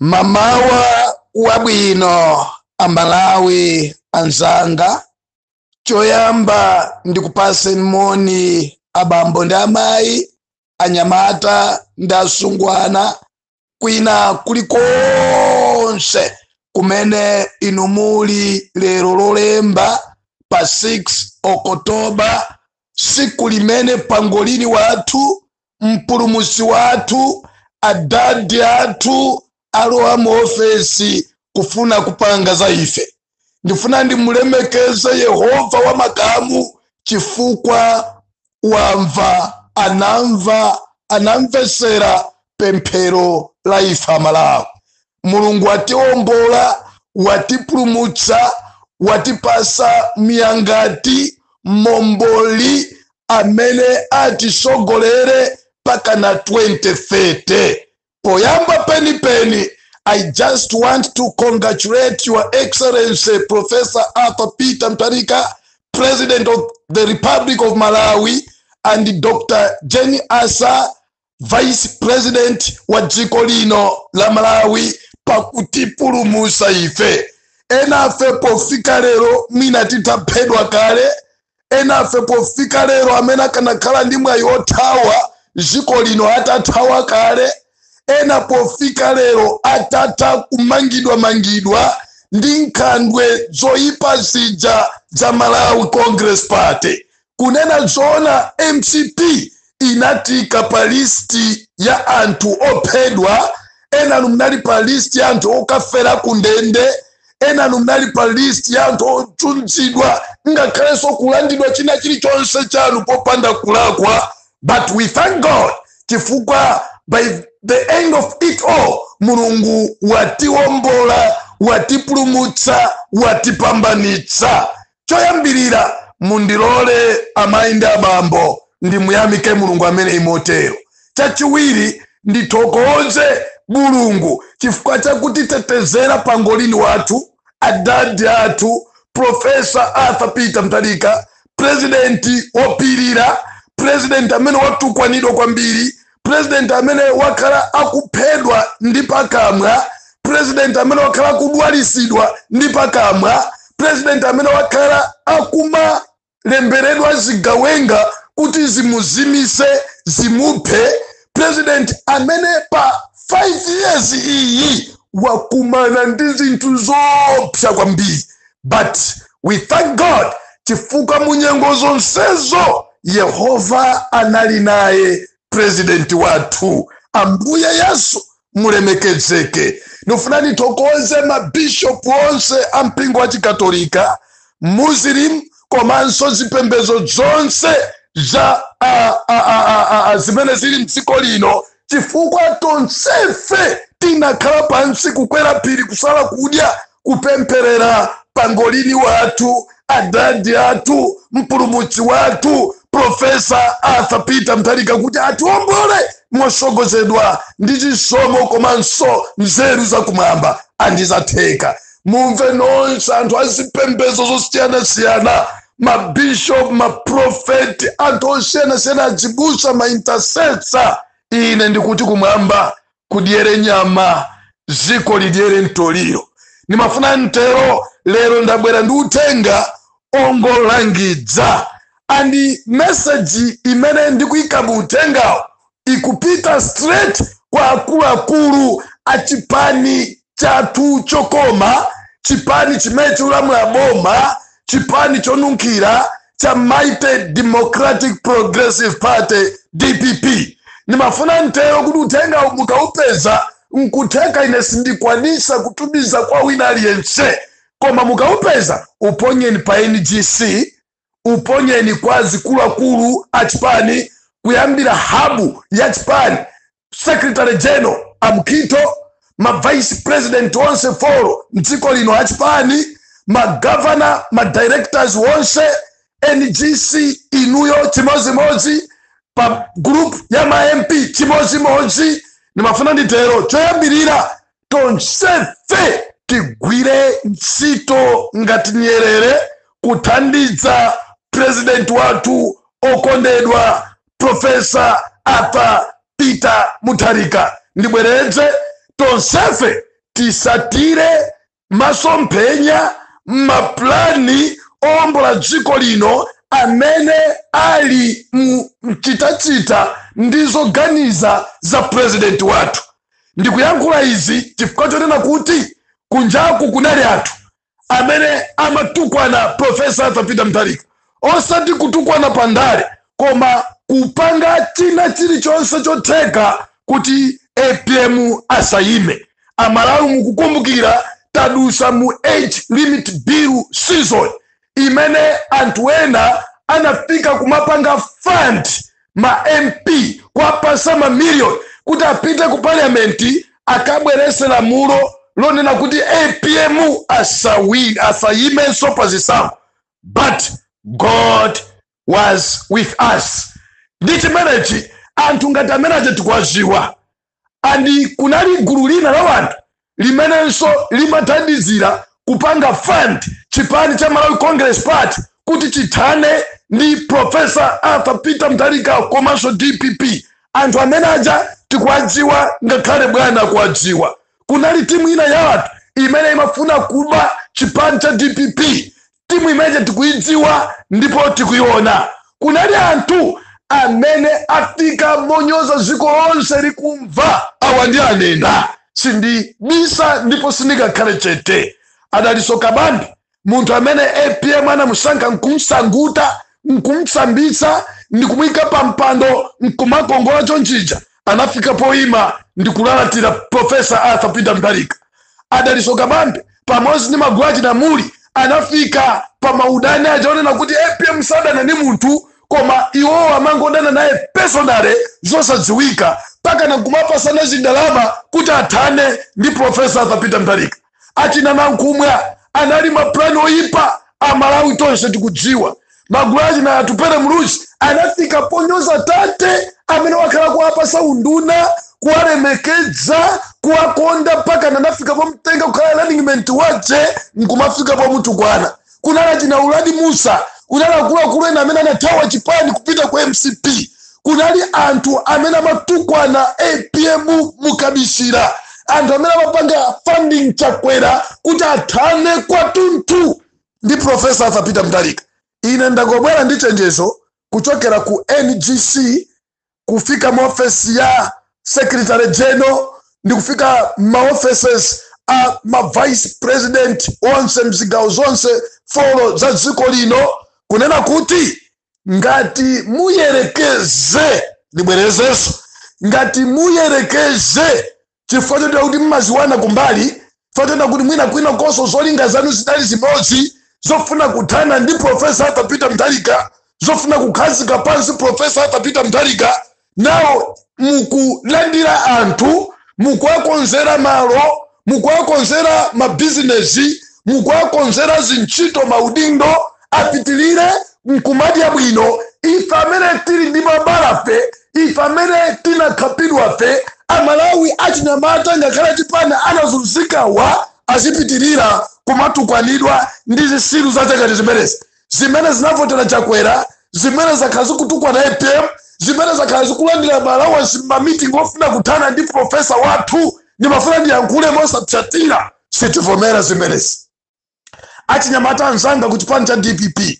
mamawa wabwino amalawi anzanga choyamba ndikupatseni moni abambo ndi amayi anyamata ndi asungwana kwina kulikonse kumene inu muli lero lolemba pa 6 okotoba siku limene pangolini wathu mpulumusi wathu adadi athu alowa mu ofesi kufuna kupanga za ife ndifuna ndimulemekeze yehova wa makamu chifukwa wamva anamva anamvesera pemphero la ife amalawi mulungu watiombola watipulumutsa watipasa myangati momboli amene atisogolere mpaka na 2030 poyamba penipeni i just want to congratulate your excellency professor arthur peter mtarika president of the republic of malawi and dr jenny asa vice president wa dziko lino la malawi pakutipulumusa ife enafe pofika lero mwina titaphedwa kale enafe pofika lero amene akanakhala ndi mwayi wothawa dziko lino atathawa kale ena pofika lero atatha kumangidwa mangidwa ndi nkhandwe zoyipa zija za malawi congress party kunena zoona mcp inatiika pa listi ya anthu ophedwa enanu mnali pa listi ya anthu okafera ku ndende enanu mnali pa listi ya anthu ochunzidwa ngakhalenso kulandidwa china chilichonse chanu popanda kulakwa but we thank god chifukwa by the end of it all mulungu watiwombola watipulumutsa watipambanitsa Choyambirira, mundilole amayi ndi abambo ndimuyamike Mulungu ameneyi motero. Chachiwiri, ndithokoze Mulungu chifukwa cha kutitetezera pangolin wathu, adadi athu, Profesa Arthur Peter Mutharika, pulezidenti wopirira, pulezidenti amene watukwanidwa kwambiri purezidenti amene wakhala akuphedwa ndi pakamwa purezidenti amene wakhala akudwalisidwa ndi pakamwa purezidenti amene wakhala akumalemberedwa zigawenga kuti zimuzimise zimuphe purezidenti amene pa 5 years iyi wakumana ndi zinthu zoopsa kwambiri but we thank god chifukwa mu nyengo zonsezo yehova anali naye purezidenti wathu ambuye yesu mulemekezeke ndifuna ndithokoze mabishopu onse a mpingo wa chikatolika muslim komanso zipembedzo zonse za zimene zili mdziko lino chifukwa tonsefe tinakhala pansi kukwera phiri kusala kudya kupempherera pangolini wathu adadi athu mpulumutsi wathu profesa arthur peter mutharika kuti atiwombole mosogozedwa ndi chisomo komanso nzeru zakumwamba andizatheka mumve nonse anthu azipembezo zosiyanasiyana mabishop maprofeti anthu osiyanasiyana adzibusa maintercessor ine ndikuti kumwamba kudyere nyama ziko lidyere mtoliro ndimafuna ntero lero ndabwera ndi uthenga ongolangidza and meseji imene ndikuyika mu uthengawo ikupita straight kwa akuluakulu a chipani chathu chokoma chipani chimene chikulamula boma chipani chonunkhira cha mighty democratic progressive party dpp ndimafuna ntero kuti uthengawu mukaupeza nkutheka ine sindikwanisa kutumiza kwa wina aliyense koma mukaupeza uponyeni pa ngc uponyeni kwa zikuluakulu a chipani kuyambira habu ya chipani secretary general amkhitho ma vice president onse folo mdziko lino achipani magovernor madirectors wonse ngc inuyo chimodzimodzi pa group ya ma mp chimodzimodzi ndimafuna nditero choyambirira tonsefe tigwire ntchito ngati nyerere kuthandiza president wathu okondedwa profesa arthur peter mutharika ndibwereze tonsefe tisatire masomphenya mapulani owombola dziko lino amene ali mu mchitachita ndi zoganiza za president wathu Ndikuyankhula izi chifukwa chonena kuti kunjaku kunali anthu amene amatukwana Professor Arthur Peter Mutharika, osati kutukwana pa ndale, koma kupanga china chilichonse chotheka kuti apm asayime. Amalawi mukukumbukira tadusa mu age limit bill season, imene anthu ena anafika kumapanga fund ma mp kuwapasa mamiliyoni kuti apite ku parliamenti akabwerese lamulo lonena kuti apm asawi- asayimenso pa zisankho but god was with us ndi chimenechi anthu ngati amene aja tikuwadziwa andi kunali gulu lina la wanthu limenenso limathandizira kupanga fund chipani cha malawi congress party kuti chithane ndi profesa arthur peter mutharika komanso dpp anthu amene aja tikuwadziwa ngakhale bwana akuwadziwa kunali timu ina ya anthu imene imafuna kuba chipani cha dpp timu imene ija tikuidziwa ndipo tikuiona kunali anthu amene afika ponyoza dziko lonse likumva awa ndiwanena sindibisa ndipo sindingakhale chete a dalitso kabambe munthu amene apm anamusankha nkumsangutsa nkumsambitsa ndikumuyika pa mpando nkumakongola chonchija anafika poima ndi kulalatira Profesa Arthur Peter Mutharika. A Dalitso Kabambe pamodzi ndi magulu achina Mulli anafika pa maudani achionekera kuti apm sadana ndi munthu koma iwowo amangodana naye personally zosadziwika mpaka nakumapasana zindalama kuti athane ndi Profesa Arthur Peter Mutharika. achina nankhumwa anali mapulani oyipa amalawi tonse tikudziwa magulu achina atupele muluzi anafika ponyoza tate amene wakhala kuwapasa unduna kuwalemekeza kuwakonda mpaka nanafika pomtenga kukhala running mate wache nkumafika pomutukwana kunali achina uladi mussa kunali akuluakulu ena amene anathawa chipani kupita ku mcp kunali anthu amene amatukwana apm mukabisira anthu amene amapanga funding chakwera kuti athane kwathunthu ndi profesa arthur peter mutharika ine ndangobwera ndi chenjezo kuchokera ku ngc kufika mu ofesi ya secretary general ndi kufika ma offices a ma vice president onse mzigawo zonse folo za dziko lino kunena kuti ngati muyerekeze ndibwerezenso ngati muyerekeze chifukwa chotera kuti mmadziwana kumbali chifukwa chotera kuti mwina kwinakonso zolinga zanu zidali zimodzi zofuna kuthana ndi profesa arthur peter mutharika zofuna kukhazika pansi profesa arthur peter mutharika nawo mukulandira anthu mukuwakonzera malo mukuwakonzera mabizinesi mukuwakonzera zintchito maudindo apitirire nkumadya bwino ife amene tili ndi mabalafe ife amene tinakhapidwafe amalawi achinyamata ngakhale achipani anazunzikawa azipitirira kumatukwanidwa ndi zitsiru za chakuti zimenezi zimene zinavotera chakwera zimene zakhala zikutukwana apm zimene zakhala zikulandira maalawansi mmamitingi ofuna kuthana ndi profesa wathu ndimafuna ndiyankhule mosapsatira sitivomera zimenezi achinyamata anzanga ku chipani cha dpp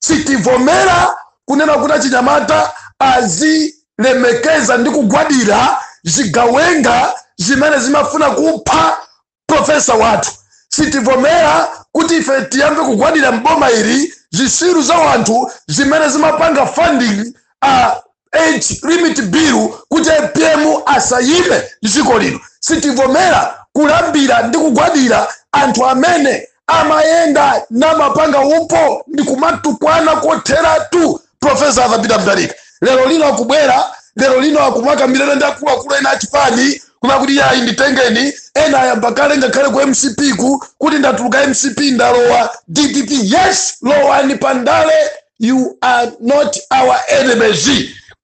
sitivomera kunena kuti achinyamata azilemekeza ndi kugwadira zigawenga zimene zimafuna kupha profesa wathu sitivomera kuti ife tiyambe kugwadira mboma ili zisiru za wanthu zimene zimapanga funding uh, age limit bill kuti apm asayime dziko lino sitivomera kulambira ndi kugwadira anthu amene amayenda namapanga upo ndi kumatukwana kotheratu profesa arthur peter mutharika lero lino akubwera lero lino akumakambirana ndi akuluakulu ena achipani kuna kuti yayi nditengeni ena ayamba kale ngakhale ku mcp ku kuti ndatuluka mcp ndalowa dpp yes lowani pandale you are not our enemies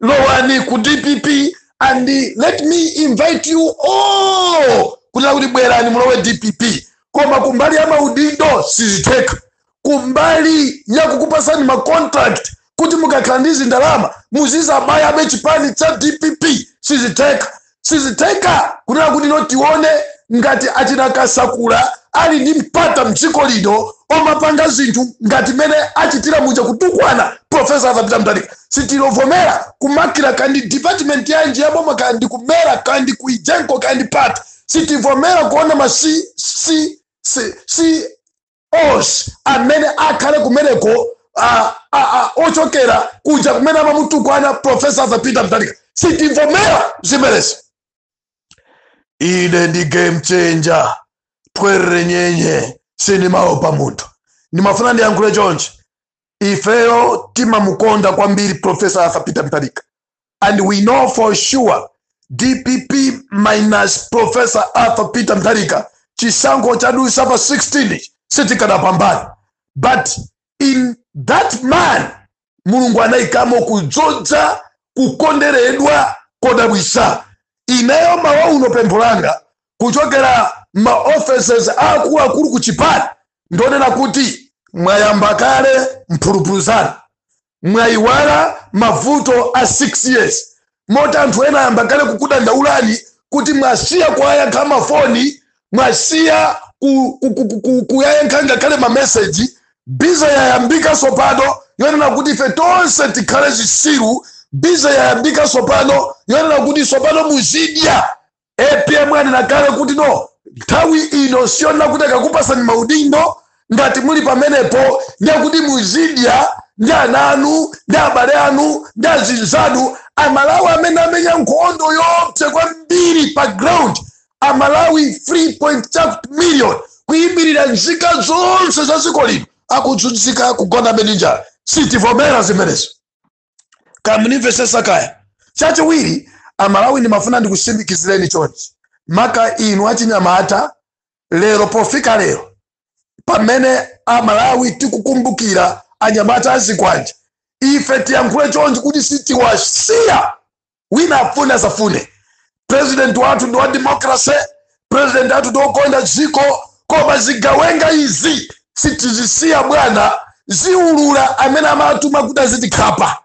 lowani ku dpp and let me invite you all kuti akuti bwerani mulowe dpp koma kumbali ya maudindo sizitheka kumbali ya kukupasani macontract kuti mukakhala ndi zindalama muzizabayabe chipani cha dpp sizitheka sizitheka kunena kuti no tione ngati achina kasakula ali ndi mpata mdziko lino omapanga zinthu ngati mene achitira muja kutukwana profesa arthur peter mutharika sitilovomera kumakira kandi department yanji yaboma kandi kumera kandi kuijenko kandi pati sitivomera kuona ma si, si, si, si, amene akhale kumeneko ochokera kuja kumene amamutukwana profesa arthur peter mutharika sitivomera zimenezi ine ndi game changer twerere nyenye sindimaopa munthu ndimafuna ndiyankhule chonchi ifeyo timamukonda kwambiri profesa arthur peter mutharika and we know for sure dpp minus professor arthur peter mutharika chisankho chadusa pa 16 sitikadapambana but in that man mulungu anayikamo kudzodza kukonderedwa kodabwisa ineyo mawa uno pempho langa kuchokera ma offices akuluakulu ku chipani ndonena kuti mwayamba kale mphulupulu zanu mwayiwala mavuto a 6 years moti anthu ena ayamba kale kukudandaulani kuti mwasiya kuwayankha mafoni mwasiya kuwayankha ngakhale mameseji biza yayambika sopano yonena kuti ife tonse tikhale zisiru biza yayambika sopano yonena kuti sopano muzidya apm anena kale kuti no nthawi ino siyonena kuti akakupasani maudindo ngati muli pamenepo ndiye kuti muzidya ndi ana anu ndi abale anu ndi azinzanu amalawi amene amenya nkhondo yoopsa kwambiri pa ground amalawi 3 point chakuti million kuyimirira nzika zonse za dziko lino akuzunzika kugonabe ndi njala sitivomera zimenezo kaya munimvesesa kaya chachiwiri amalawi ndimafuna ndikusimikizireni chonchi maka inu achinyamata lero pofika lero pamene amalawi tikukumbukira anyamata a zikwanje ife tiyankhule chonchi kuti sitiwasiya wina afune asafune president wathu ndi wa democracy president wathu ndi okonda dziko koma zigawenga izi sitizisiya bwana ziulula amene amatuma kuti azitikhapa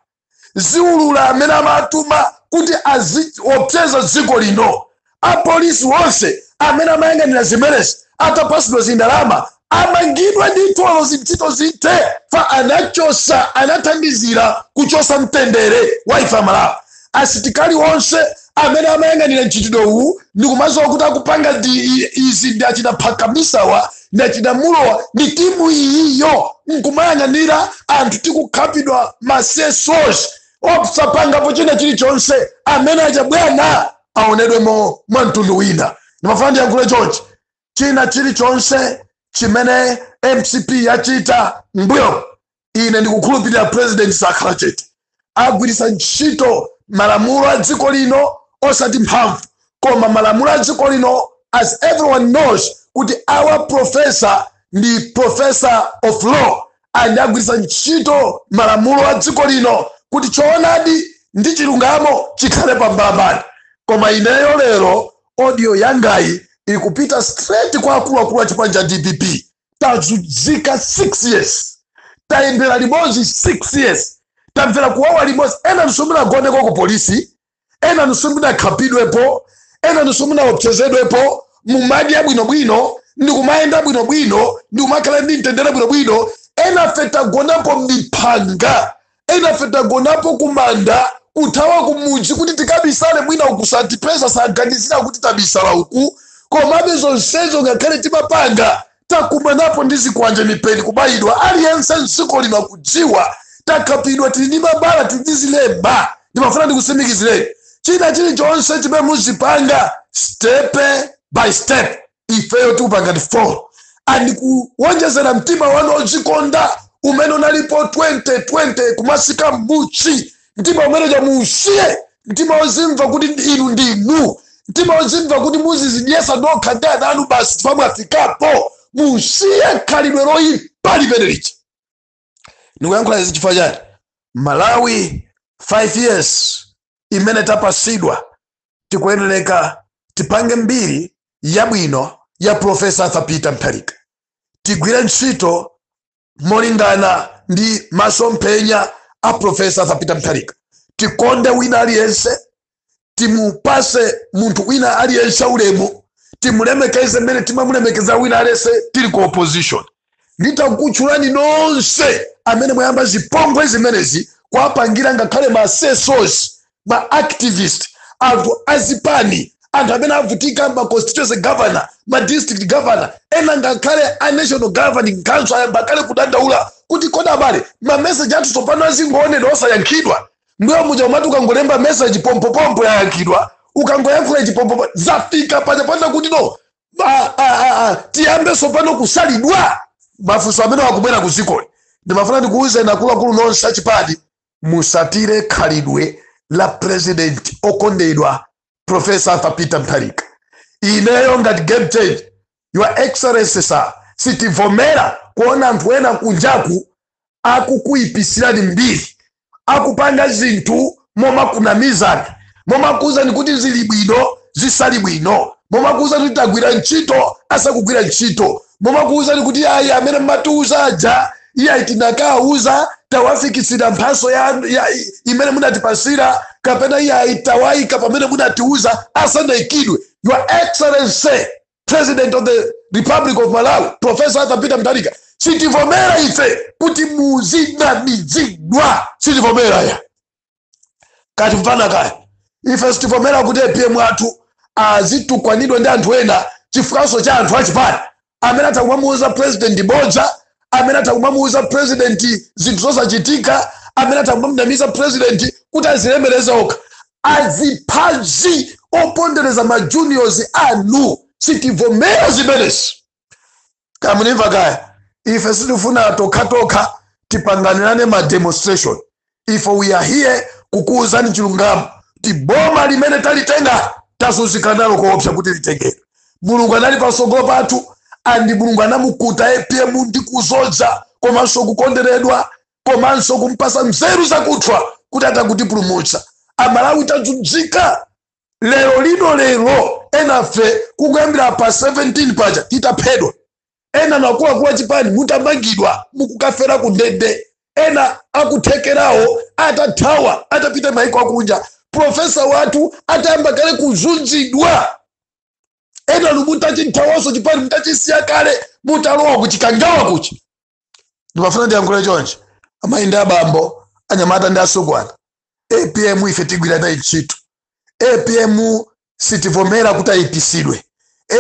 ziulula amene amatuma kuti aziopseza dziko lino apolisi onse amene amayang'anira zimenezi atapasidwa zindalama amangidwa ndithu olo zintchito zithe fa anachosa anathandizira kuchosa mtendere wa ife amalawi asitikali onse amene amayang'anira mchitidwe uwu ndikumadziwa kuti akupanga ndi i- izi ndi achita phakamisawa ndi achita mulowa ndi timu iyiyo nkumayang'anira anthu tikukhapidwa masesos osapangapo china chilichonse amene acha bwana aonedwemo mwa mtundu wina ndimafuna ndiyankhule chonchi china chilichonse chimene mcp yachita mbuyo ine ndikukhulupirira president sakhala chete agwiritsa ntchito malamulo a dziko lino osati mphamvu koma malamulo a dziko lino as everyone knows kuti our professor ndi professor of law and agwiritsa ntchito malamulo a dziko lino kuti choonadi ndi chilungamo chikhale pambalambanda koma ineyo lero audio yangayi ikupita straight kwa akuluakulu a chipani cha dpp tazunzika 6 years tayendera limodzi 6 years tamvera kuwawa limodzi enanu simunagoneko ku polisi enanu simunakhapidwepo enanu simunaopsezedwepo mumadya bwinobwino ndi kumayenda bwinobwino ndi kumakhala ndi mtendere bwinobwino enafe tagonapo m'phanga enafe tagonapo kumanda kuthawa kumudzi kuti tikabisale mwina uku satipeza saganizira kuti tabisala uku komabe zonsezo ngakhale timapanga takumanapo ndi zikwanje mipeni kubayidwa aliyense mdziko lino akudziwa takhapidwa tili ndi mabala tili ndi zilema ndimafuna ndikutsimikizireni china chilichonse chimene muzipanga step by step ifeyo tikupangani follow and kuwonjezera mtima wanu odzikonda umene unalipo 2020 kumatsika mbuchi mtima umeneja muusiye mtima ozimva kuti inu ndinu mtima ozimva kuti muzizidyesa nokha ndi ana anu basi chifukwa mwafikapo musiye khalidwe loyipa limene lija ndikuyankhula izi chifukwa chani malawi 5 years imene tapasidwa tikuyeneleka tipange mbiri yabwino ya profesa arthur peter mutharika tigwire ntchito molingana ndi masomphenya a profesa arthur peter mutharika tikonde wina aliyense timupase munthu wina aliyense ulemu timulemekeze mmene timamulemekeza wina aliyense tili ku opposition nditakutchulani nonse amene mwayamba zipongwe zimenezi kuwapangira ngakhale masesosi ma activist anthu azipani anthu amene avutika ma constituency governor ma district governor ena ngakhale a national governing council ayamba kale kudandaula kuti kodi abale ma message athu tsopano azingoonedwa osayankhidwa mbuyo muja umati ukangolemba message pompopompo yayankhidwa ukangoyankhula chipompopo zafika paja panda kuti no tiyambe tsopano kusalidwa mafunso amene akubwera ku dzikoli ndimafuna ndikuwuzeni akuluakulu nonse achipani musatire khalidwe la president okondedwa professor arthur peter mutharika ineyo ngati game change your excellency sir sitivomera kuona anthu ena kunjaku akukuipisirani mbiri akupanga zinthu momakunamizani momakuuzani kuti zili bwino zisali bwino momakuuzani kuti tagwira ntchito asakugwira ntchito momakuuzani kuti ayi amene mmatiuza aja iyayi tinakauza tawafikitsira mphaso ija imene munatipasira kapena iyayi tawayika pamene munatiuza asanaikidwe your excellency president of the republic of malawi professor arthur peter mutharika sitivomera ife kuti muzinamizidwa sitivomera ya katimvana kaya ife sitivomera kuti apm athu azitukwanidwa ndi anthu ena chifukwanso cha anthu achipani amene atakumamuuza president bodza amene atakumamuuza president zinthu zosachitika amene atakumamnamiza president kuti azilemereza okha asiye kazipondereza majuniors anu sitivomera zimenezi kamunimva kaya ife sitifuna tokhatokha tipangirane ma demonstration ife we are here kukuwuzani chilungamo kuti boma limene talitenga tazunzika nalo koopsa kuti litengedwe mulungu anali patsogolo pathu andi mulungu anamukuta apm ndi kuzodza komanso kukonderedwa komanso kumpasa nzeru zakuthwa kuti atakutipulumutsa amalawi tazunzika lero lino lero enafe kuyambira pa 17 paja titaphedwa ena anakuwakuwa chipani mutamangidwa mukukafera ku ndende ena akuthekerawo atathawa atapita maiko akunja profesa wathu atayamba kale kuzunzidwa ena muli mutachithawanso chipani mutachisiya kale mutalowa kuchikangawa kuchi ndimafuna ndiyankhule chonchi amayi ndi abambo anyamata ndi asungwana apm ife tigwira naye ntchito apm sitivomera kuti ayipisidwe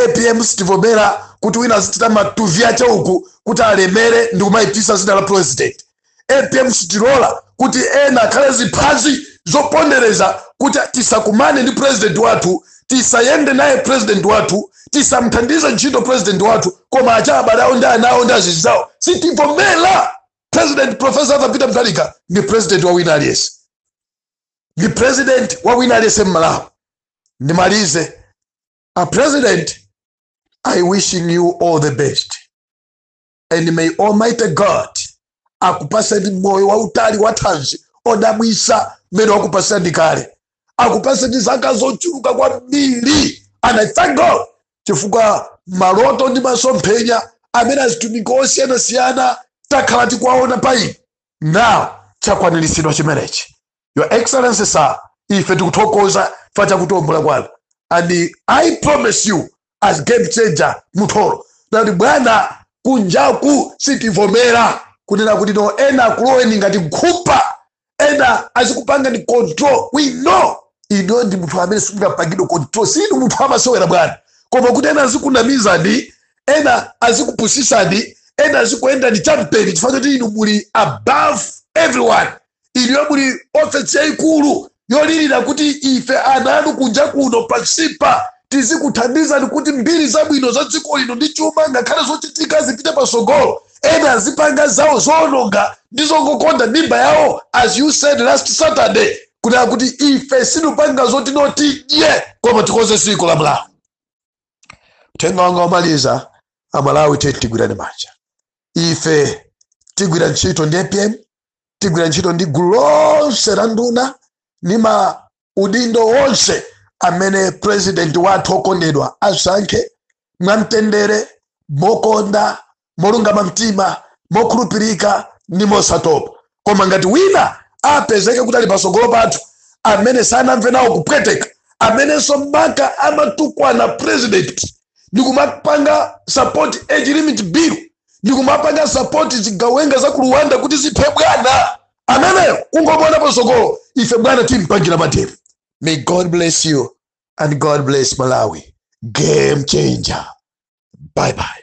apm sitivomera kuti wina azichita matuvi ake uku kuti alemere ndi kumayipisa zina la president apm sitilola kuti ena akhale ziphazi zopondereza kuti tisakumane ndi president wathu tisayende naye president wathu tisamthandize ntchito president wathu koma achabale awo ndi ana awo ndi azinzawo sitivomera president profesa arthur peter mutharika ndi president wa wina aliyense ndi president wa wina aliyense mmalawi ndimalize a president i wishing you all the best and may almighty god akupaseni moyo wautali wathanzi odabwisa mmene wakupaseni kale akupaseni zaka zochuluka kwambiri and i thank god chifukwa maloto ndi masomphenya amene atumiki osiyanasiyana takhala tikuwaona pa inu now chakwaniritsidwa chimenechi your excellency sir ife tikuthokoza chifukwa cha kutambula kwanu and i promise you as game changer muthoro that bwana kunjaku sitivomera kunena kuti no ena akuloweni ngati nkhupa ena azikupangani control we know inu ndi munthu amene simunapangidwe control sinu munthu amasewera bwana koma kuti ena azikunamizani ena azikupusisani ena azikuyendani chamseri chifukwa choti inu muli above everyone inuyo muli ofesi yayikulu yolilira kuti ife ana anu kunja kuno pansipa tizikuthandizani kuti mbiri zabwino za dziko lino ndi chuma ngakhale zochitika zipite patsogolo ena azipanga zawo zoononga ndi zongokonda mimba yawo as you said last saturday kuti akuti ife sindipanga zoti inu mudye koma tikonze dziko la malawi uthenga wanga womaliza amalawi tiyeni tigwirane manja ife tigwira ntchito ndi apm tigwira ntchito ndi gulu lonse la nduna ndi maudindo wonse amene purezidenti wathu okondedwa asankhe mwamtendere mokonda molungama mtima mokhulupirika ndi mosatopa koma ngati wina apezeke kuti ali patsogolo pathu amene sanamve nawo kupweteka amenenso mpaka amatukwana purezidenti ndi kumapanga sapoti age limit bill ndi kumapanga sapoti zigawenga za ku Rwanda kuti ziphe bwana ameneyo kungomona patsogolo ife bwana timpangira mademo May god bless you and god bless malawi game changer bye bye